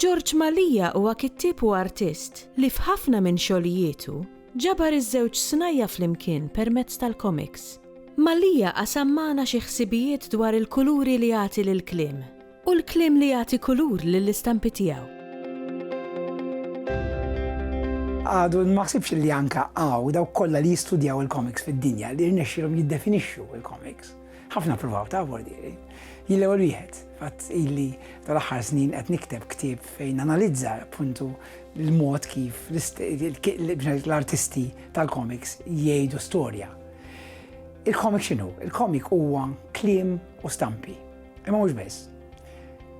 George Mallia huwa kittieb u artist li f'ħafna minn xogħlijietu ġabar iż-żewġ snajja' flimkien permezz tal-komiks. Mallia qasam magħna xi ħsibijiet dwar il-kuluri li jagħti lill-kliem. Hu l-kliem li jagħti kulur lill-istampi tiegħu. Għadu ma ħsibx li anke hawn dawk kollha li jistudjaw il-komiks fid-dinja li rnexxilhom jiddefinixxu il-komiks. Ħafna ppruvaw ta' bordieri. Jien l-ewwel wieħed, fatt illi tal-aħħar snin qed nikteb ktieb fejn analizza appuntu l-mod kif l-artisti tal-komiks jgħidu storja. Il-komik x'inhu? Il-komik huwa kliem u stampi. Imma mhux biss.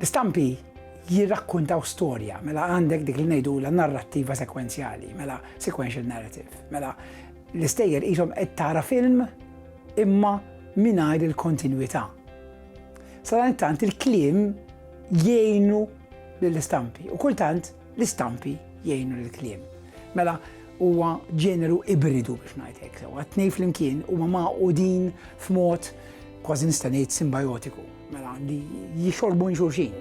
L-istampi jirrakkuntaw storja, mela għandek dik li ngħidulha narrattiva sekwenzjali, mela sequential narrative, mela l-istejjer qishom qed tara film imma mingħajr il-kontinwità. Sadanittant il-kliem jgħinu lill-istampi u kultant L-istampi jgħinu lill-kliem. Mela, huwa ġeneru ibridu biex ngħid hekk sewwa. Tnej flimkien huma magħqudin f'mod kważi nista' ngħid simbajotiku, mela li jixorbu minn xulxin.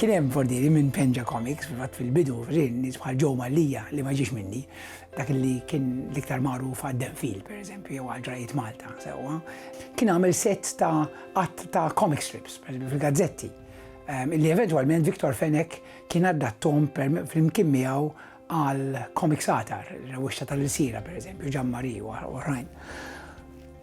Kien hemm fordieri minn Penja Comics fil-fatt fil-bidu rin nies bħal Joe Mallija li ma ġiex minni, dak li kien l-iktar magħruf għad-Denfil, pereżempju, jew għal ġrajiet Malta sewwa. Kien għamel set ta' qatt ta' comic strips, pereżempju fil-gazzetti. li eventwalment Victor Fenech kien addattom flimkien miegħu għal komik satar, rewixta tal-ilsira per eżempju, Ġan Mari u oħrajn.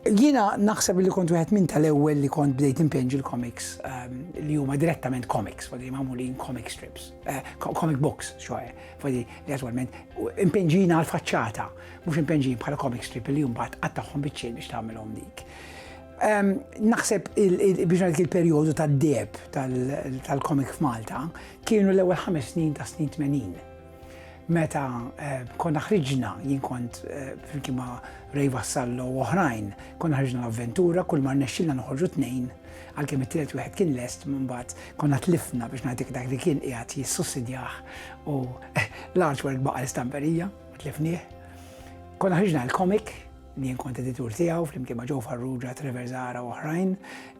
Jiena naħseb li kont wieħed minn tal-ewwel li kont bdejt impinġi l-komiks ehm, li huma direttament komiks, fadi magħmulin comic strips, eh, comic books, xoħe, fadi li attwalment impinġina għal faċċata, mhux impinġin bħala comic strip li mbagħad qattagħhom biċċiel biex tagħmilhom dik. Naħseb biex ngħid il-perjodu tad-deb tal-komik f'Malta kienu l-ewwel ħames snin ta' snin 80. Meta eh, konna ħriġna jien kont eh, fil-kima Ray Vassallo u oħrajn, konna ħriġna l-avventura kull mar nexxilna noħorġu tnejn għalkemm it-tielet wieħed kien lest mbagħad konna tlifna biex ngħidik dak li kien qiegħed jissussidjah u l-artwork baqa' l-istamperija, tlifnieh. Konna ħriġna l-komik Jien kont editur tiegħu flimkien ma' Joe Farrugia, Trevor Zahara u oħrajn,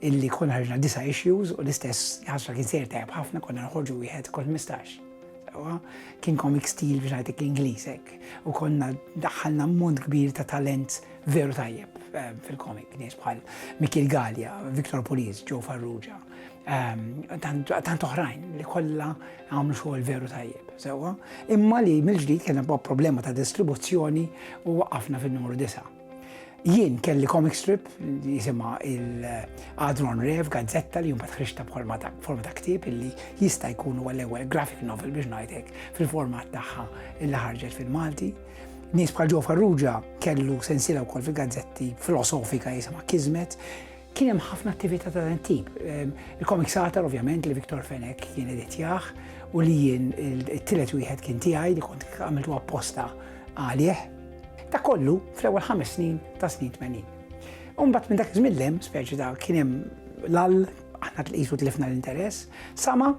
illi konna ħarġna disa' issues u l-istess ħasra kien sejr tajjeb ħafna konna noħorġu wieħed kull ħmistax. Sewwa, kien comic stil biex ngħidlek l-Ingliż hekk u konna daħħalna ammont kbir ta' talent veru tajjeb fil-comic, nies bħal Mikiel Galea, Victor Pulis, Joe Farrugia. ehm, tant oħrajn li kollha għamlu xogħol veru tajjeb, sewwa, imma li mill-ġdid kien hemm problema ta' distribuzzjoni u waqafna fin-numru 9. Jien kelli comic strip li jisima il-Adron Rev, gazzetta li jumbat ħriġta bħolma ta' forma ta' ktib illi jista' jkun huwa l-ewwel graphic novel biex ngħidlek fil-format tagħha illi ħarġet fil-Malti. Nies bħal ġo Farrugia kellu sensila wkoll fil-gazzetti filosofika jisima Kizmet, Kien hemm ħafna attività ta' dan it-tip. Il-Comic Satar ovvjament li Viktor Fenek kien editjah u li jien it-tielet wieħed kien tiegħi li kont għamiltu apposta għalih. Ta' kollu fl-ewwel ħames snin ta' snin 80. Umbat minn dak iż-żmien speċi ta' kien hemm l-all, aħna tqisu tlifna l-interess, sama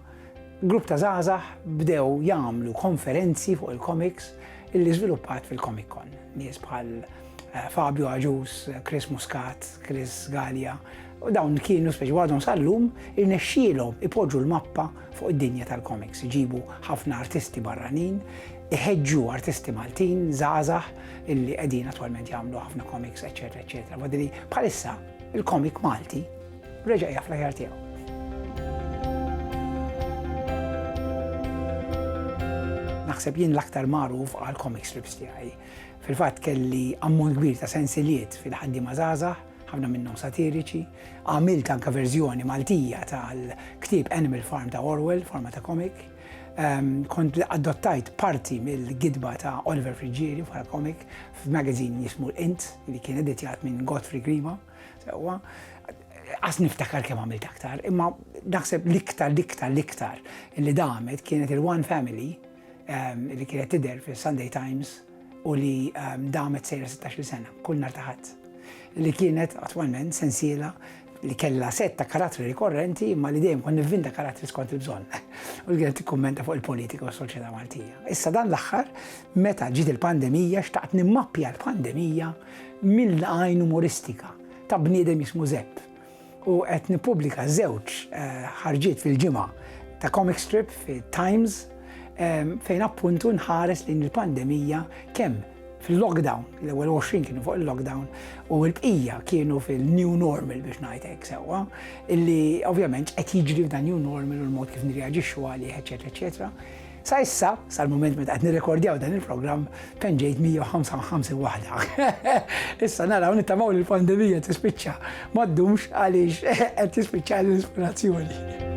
grupp ta' żgħażagħ bdew jagħmlu konferenzi fuq il-komiks illi żviluppat fil-Comic Con. Nies bħal Fabio Agius, Chris Muscat, Chris Gallia, u dawn kienu speċi għadhom sal-lum irnexxielhom ipoġġu l-mappa fuq id-dinja tal-komiks, iġibu ħafna artisti barranin, iħeġġu artisti Maltin, żgħażagħ illi qegħdin attwalment jagħmlu ħafna komiks, eċetera, eċetera. Wadri bħalissa il-komik Malti reġa' jaf l-aħjar tiegħu. Naħseb jien l-aktar magħruf għal komik strips tiegħi. Fil-fatt kelli ammont kbir ta' sensiliet fil-ħaddiema żgħażagħ, ħafna minnhom satiriċi. Għamilt anke verżjoni Maltija tal-ktieb Animal Farm ta' Orwell f'forma ta' komik. Kont adottajt parti mill-gidba ta' Oliver Friggieri bħala komik f'magazin jismu l-Int li kien editjat minn Godfrey Grima. Sewwa, qas niftakar kemm għamilt aktar, imma naħseb l-iktar, l-iktar, l-iktar li damet kienet il-One Family, li kienet tidher fis-Sunday Times u li damet sejra 16-il sena, kull nhar ta' Ħadd, li kienet attwalment sensiela li kellha sett ta' karattri rikorrenti imma li dejjem kont nivvinta karattri skont il-bżonn u li kienet tikkummenta fuq il-politika u s-soċjetà Maltija. Issa dan l-aħħar meta ġiet il-pandemija xtaqt nimmappja l-pandemija mill-għajn umoristika ta' bniedem jismu Żepp u qed nippubblika żewġ ħarġiet fil-ġimgħa ta' comic strip fit-Times fejn appuntu nħares lejn il-pandemija kemm fil-lockdown, l-ewwel 20 kienu fuq il-lockdown u l-bqija kienu fil-new normal biex ngħid hekk sewwa, illi ovvjament qed jiġri f'dan new normal u l-mod kif nirreaġixxu għalih, eċetera, eċetera. Sa issa, sal-mument meta qed nirrekordjaw dan il-programm, penġejt 155 waħda. Issa naraw nittamaw li l-pandemija tispiċċa ma ddumx għaliex qed tispiċċa l-ispirazzjoni.